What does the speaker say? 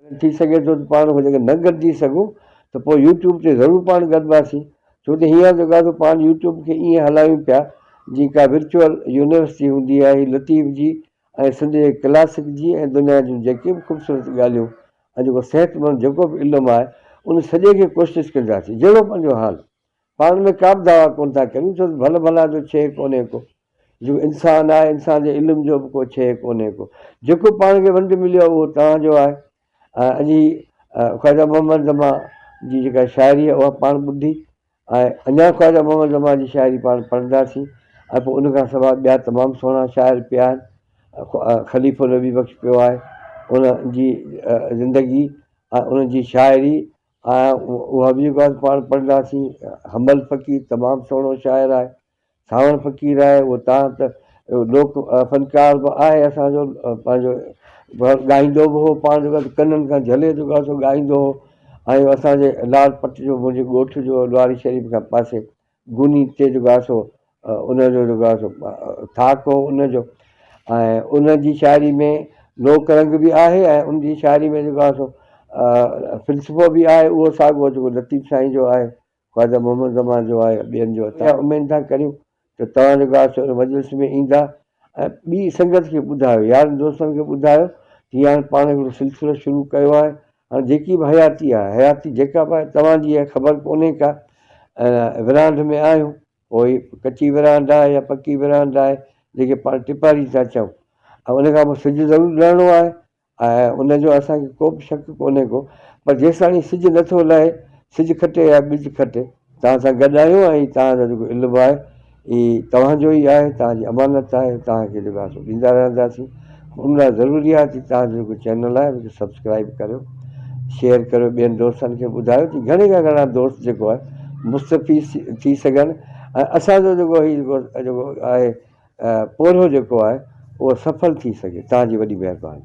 اگر ٿي سگهي ٿو ته پاڻ هن کي نه گڏجي سگهون ته پوء يوٽيوب تي ضرور پاڻ گڏباسين ڇو ته هينئر جيڪو آهي سو پاڻ يوٽيوب کي ائين هلايون پيا جيئن ڪا ورچوئل يونيورسٽي هوندي آهي لطيف جي ۽ سنڌ جي ڪلاسڪ جي ۽ دنيا جون جيڪي به خوبصورت ڳالهيون ۽ جيڪو صحتمند جيڪو به علم آهي ان سڄي کي ڪوشش ڪنداسين جهڙو پنهنجو حال پاڻ ۾ ڪابه دعويٰ ڪونه ٿا ڪريون ڇو ته ڀل ڀلان جو شيء ڪونهي ڪو جيڪو انسان آهي انسان جي علم جو به ڪو شيء ڪونهي ڪو جيڪو پاڻ کي ونڊ مليو آهي اهو توهان جو آهي ۽ اڄ هي خواجه محمد زمان جي جيڪا شاعري آهي اها پاڻ ٻڌي ۽ اڃا خواجه محمد زمان جي شاعري پاڻ پڙهنداسين ۽ پوء ان کان سواء ٻيا تمام سهڻا شاعر پيا آهن خليفو النبي بخش پيو آهي ان جي زندگي ۽ ان جي شاعري آء اها به ڳالهه پاڻ پڙهنداسين. حنبل فقير تمام سهڻو شاعر آهي. سانوڻ فقير آهي اهو تان ته لوڪ فنڪار به آهي اسان جو پنهنجو ڳائيندو به هو پاڻ جيڪو ڪنن کان جهلي جيڪو آهي سو ڳائيندو هو ۽ اسان جي لاڙ پٽ جو منهنجي ڳوٺ جو لواري شريف کان پاسي گوني تي جيڪو آهي سو ان جو جيڪو آهي سو ٿاڪ هو ان جو ۽ ان جي شاعري ۾ لوڪ رنگ به آهي ۽ ان جي شاعري ۾ جيڪو آهي سو فلسفو به آهي اهو ساڳو جيڪو لطيف سائين جو آهي خواجه محمد زمان جو آهي ٻين جو آهي اميد ٿا ڪريون ته توهان جيڪو آهي سو مجلس ۾ ايندا ۽ ٻي سنگت کي ٻڌايو، يارن دوستن کي ٻڌايو ته هي هاڻي پاڻ هڪڙو سلسلو شروع ڪيو آهي، هاڻي جيڪي به حياتي آهي، حياتي جيڪا به آهي توهان جي آهي خبر ڪونهي ڪا ۽ ورانڍ ۾ آهيون، پوء ڪچي ورانڍ آهي يا پڪي ورانڍ آهي، جنهن کي پاڻ ٽپاري ٿا چئون ۽ ان کان پوء سج ضرور ڊهڻو آهي ۽ ان جو اسان کي ڪو به شڪ ڪونهي ڪو پر جيستاڻي سج نه ٿو لهي، سج کٽي يا ٻج کٽي، توهان سان گڏ آهيون ۽ توهان جو جيڪو علم آهي هي توهان جو ئي آهي، توهان جي امانت آهي، توهان کي جيڪو آهي سو ڏيندا رهنداسين. ان لاء ضروري آهي ته توهان جو جيڪو چينل آهي ان کي سبسڪرائيب ڪريو، شيئر ڪريو، ٻين دوستن کي ٻڌايو جي گهڻي کان گهڻا دوست جيڪو آهي مستفيض ٿي سگهن ۽ اسان جو جيڪو هي جيڪو جيڪو آهي پورهيو جيڪو آهي اهو سڦل ٿي سگهي. توهان جي وڏي مهرباني.